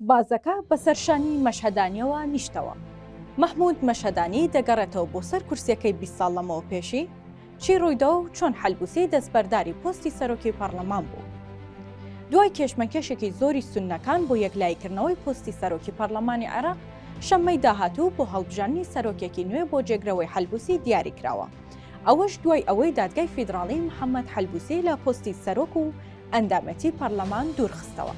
بازەکە بە سەر شانی مەشهەدانیەوە نیشتەوە. مەحمود مەشهەدانی دەگەڕێتەوە بۆ سەر کورسیەکەی بیست ساڵ لەمەوە پێشی، چی ڕوویدا و چۆن حەلبوسی دەستبەرداری پۆستی سەرۆکی پەڕلەمان بوو. دوای کێشمەکێشێکی زۆری سوننەکان بۆ یەکلاییکردنەوەی پۆستی سەرۆکی پەڕلەمانی عێراق، شەممەی داهاتوو بۆ هەڵبژاندنی سەرۆکێکی نوێ بۆ جێگرەوەی حەلبوسی دیاریکراوە. ئەوەش دوای ئەوەی دادگای فیدراڵی محەمەد حەلبوسی لە پۆستی سەرۆک و ئەندامێتی پەرلەمان دوورخستەوە.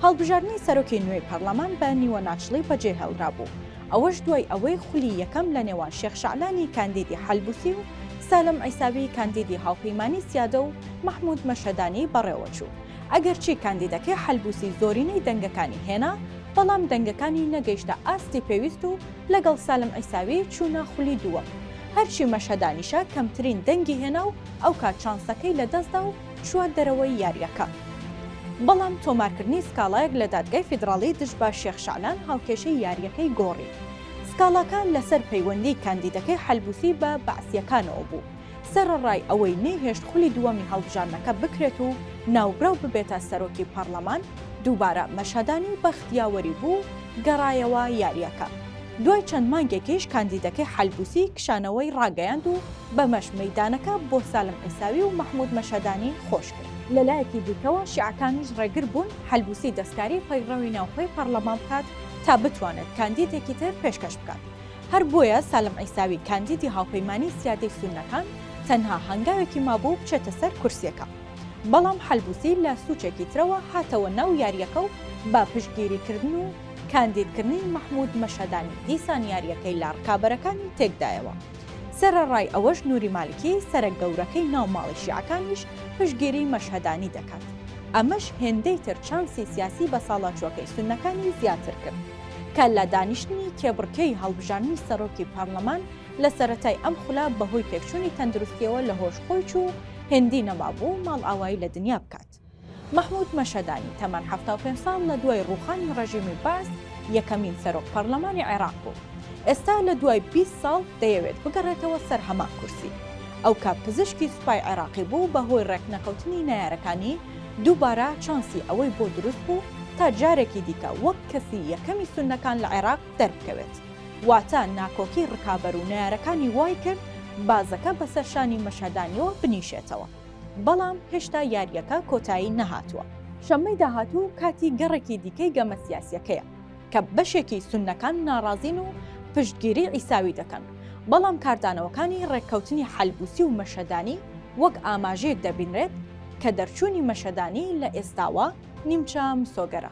هەڵبژاردنی سەرۆکی نوێی پەرلەمان بە نیوەناچڵی بەجێهێڵرابوو، ئەوەش دوای ئەوەی خولی یەکەم لە نێوان شێخ شەعلانی کاندیدی حەلبوسی و سالم عیساوی کاندیدی هاوپەیمانی سیادە و مەحمود مەشهەدانی بەڕێوەچوو، ئەگەرچی کاندیدەکەی حەلبوسی زۆرینەی دەنگەکانی هێنا، بەڵام دەنگەکانی نەگەیشتە ئاستی پێویست و لەگەڵ سالم عیساوی چوونە خولی دووەم، هەرچی مەشهەدانیشە کەمترین دەنگی هێنا و ئەوکات چانسەکەی لەدەستدا و چووە دەرەوەی یارییەکە، بەڵام تۆمارکردنی سکاڵایەک لە دادگای فیدراڵی دژ بە شێخ شەعلان هاوکێشەی یارییەکەی گۆڕی. سکاڵاکە لەسەر پەیوەندیی کاندیدەکەی حەلبوسی بە بەعسییەکانەوە بوو، سەرەڕای ئەوەی نەیهێشت خولی دووەمی هەڵبژاردنەکە بکرێت و ناوبراو ببێتە سەرۆکی پەڕڵەمان، دووبارە مەشهەدانی بەخت یاوەری بوو و گەڕایەوە یارییەکە. دوای چەند مانگێکیش کاندیدەکەی حەلبوسی کشانەوەی ڕاگەیاند و، بەمەش مەیدانەکە بۆ سالم عیساوی و مەحمود مەشهەدانی خۆش کرد. لە لایەکی دیکەوە شیعەکانیش ڕێگر بوون حەلبوسی دەستکاری پەیڕەوی ناوخۆی پەڕڵەمان بکات تا بتوانێت کاندیدێکی تر پێشکەش بکات. هەر بۆیە سالم عیساوی کاندیدی هاوپەیمانی سیادەی سوننەکان تەنها هەنگاوێکی مابوو بچێتە سەر کورسیەکە. بەڵام حەلبوسی لە سوچێکی ترەوە هاتەوە ناو یاریەکە و بە پشتگیری کردن و کاندیدکردنی مەحمود مەشهەدانی دیسان یاریەکەی لە ڕکابەرەکانی تێکدایەوە. سەرەڕای ئەوەش نوری مالکی سەرە گەورەکەی ناو ماڵی شیعەکانیش پشتگیری مەشهەدانی دەکات، ئەمەش هێندەی تر چانسی سیاسی بەساڵاچووەکەی سوننەکانی زیاتر کرد، کە لە دانیشتنی کێبڕکێی هەڵبژاردنی سەرۆکی پارلەمان لە سەرەتای ئەم خولە بەهۆی تێکچوونی تەندروستییەوە لەهۆش خۆی چوو و هێندی نەمابوو ماڵئاوایی لە دنیا بکات. مەحمود مەشەدانی تەمەن حەفتا و پێنج ساڵ لە دوای ڕووخانی ڕێژیمی بەعس یەکەمین سەرۆک پەڕلەمانی عێراق بوو، ئێستا لە دوای بیست ساڵ دەیەوێت بگەڕێتەوە سەر هەمان کورسی. ئەو کە پزیشکی سوپای عێراقی بوو، بەهۆی ڕێکنەکەوتنی نەیارەکانی دووبارە چانسی ئەوەی بۆ دروست بوو تا جارێکی دیکە وەک کەسی یەکەمی سوننەکان لە عێراق دەربکەوێت، واتە ناکۆکی ڕکابەر و نەیارەکانی وایکرد بازەکە بەسەر شانی مەشهەدانیەوە بنیشێتەوە. بەڵام هێشتا یارییەکە کۆتایی نەهاتووە. شەممەی داهاتوو کاتی گەڕێکی دیکەی گەمە سیاسییەکەیە کە بەشێکی سوننەکان ناڕازین و پشتگیری عیساوی دەکەن، بەڵام کاردانەوەکانی ڕێککەوتنی حەلبوسی و مەشەدانی وەک ئاماژەیەک دەبینرێت کە دەرچوونی مەشەدانی لە ئێستاوە نیمچە مسۆگەرە.